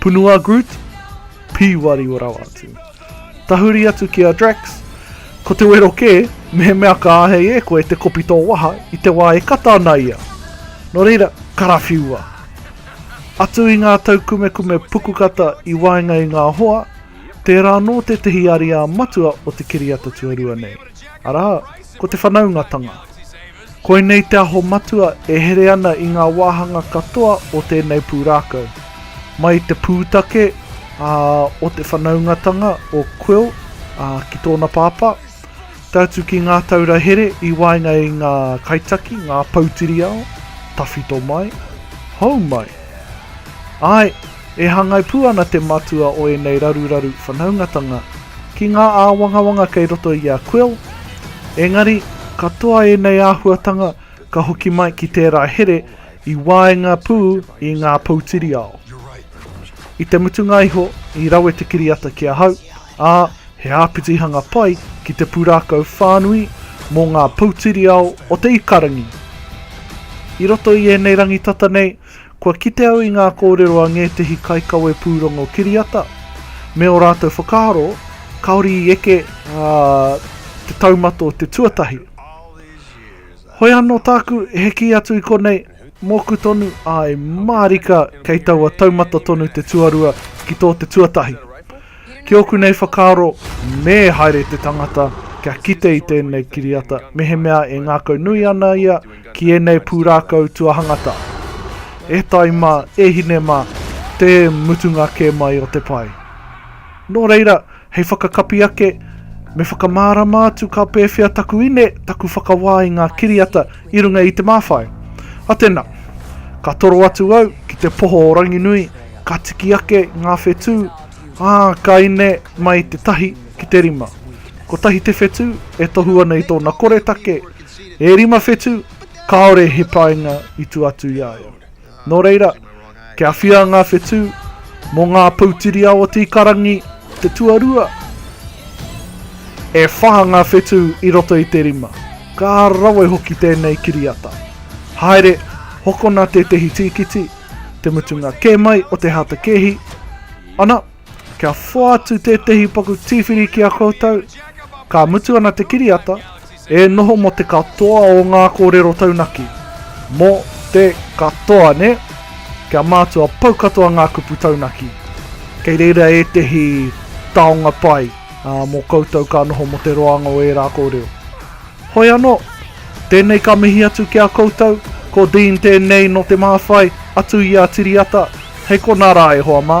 Punu a Groot, pīwari o rawa atu. Tahuri atu ki a Drax, Ko te wero kē, mehemea ka āhei e koe te kopi tō waha i te wā e kata ana ia. Nō reira, karawhiua! Atu i ngā taukumekume pukukata i waenga i ngā hoa, tērā anō tētehi ariā matua o te kiriata tuarua nei, arā, ko te whanaungatanga. Koinei te aho matua e here ana i ngā wāhanga katoa o tēnei pūrākau. Mai i te pūtake ā, o te whanaungatanga o Quill ā, ki tōna pāpā, tae atu ki ngā taura here i waenga i ngā kaitaki, ngā poutiriao, tawhito mai, hou mai. Āe! E hangai pū ana te matua o ēnei raruraru whanaungatanga ki ngā āwangawanga kei roto i a Quill, engari, katoa ēnei āhuatanga ka hoki mai ki tērā here i waenga pū i ngā poutiriao. I te mutunga iho, i rawe te kiriata ki ahau, ā, he āpitihanga pai ki te pūrākau whānui mō ngā poutiriao o te ikarangi. I roto i ēnei rangitata nei, Kua kite au i ngā kōrero a ngētehi kaikawe pūrongo kiriata, me ō rātou whakaaro, kāore i eke te taumata o te tuatahi. Hoi anō tāku he kī atu i konei, mōku tonu, āe mārika kei taua taumata tonu te tuarua ki tō te tuatahi. Ki ōku nei whakaaro, me haere te tangata kia kite i tēnei kiriata mehemea e ngākau nui ana ia ki ēnei pūrākau tuahangata. E tai mā, e hine mā, te mutunga kē mai o te pae. Nō reira, hei whakakapi ake, me whakamārama atu ka pēwhea taku ine, taku whakawā i ngā kiriata i runga i te māwhai. A tena, ka toro atu au ki te poho o Ranginui, ka tiki ake ngā whetū, Ā, ka ine mai te tahi ki te rima. Kotahi te whetū e tohu ana i tōna koretake, e rima whetū, kāore he painga i tua atu i a ia. Nō reira, kia whia ngā whetū, mō ngā poutiriao o Tīkarangi te tuarua, e whā ngā whetū i roto i te rima. Ka rawe hoki tēnei kiriata. Haere, hokona tētehi tīkiti, Te mutunga kē mai o te hātakēhi, ana, kia whātu tētehi paku tīwhiri ki a koutou, ka mutu ana te kiriata, e noho mō te katoa o ngā kōrero taunaki, mō te katoa, nē? Kia mātua pau katoa ngā kupu taunaki. Kei reira ētehi taonga pai, ā, mō koutou ka noho mō te roanga o ērā kōrero. Hoi anō, tēnei ka mihi atu ki a koutou, ko Dean tēnei nō Te Māwhai, atu i a Tiriata, hei konā rā e hoa mā.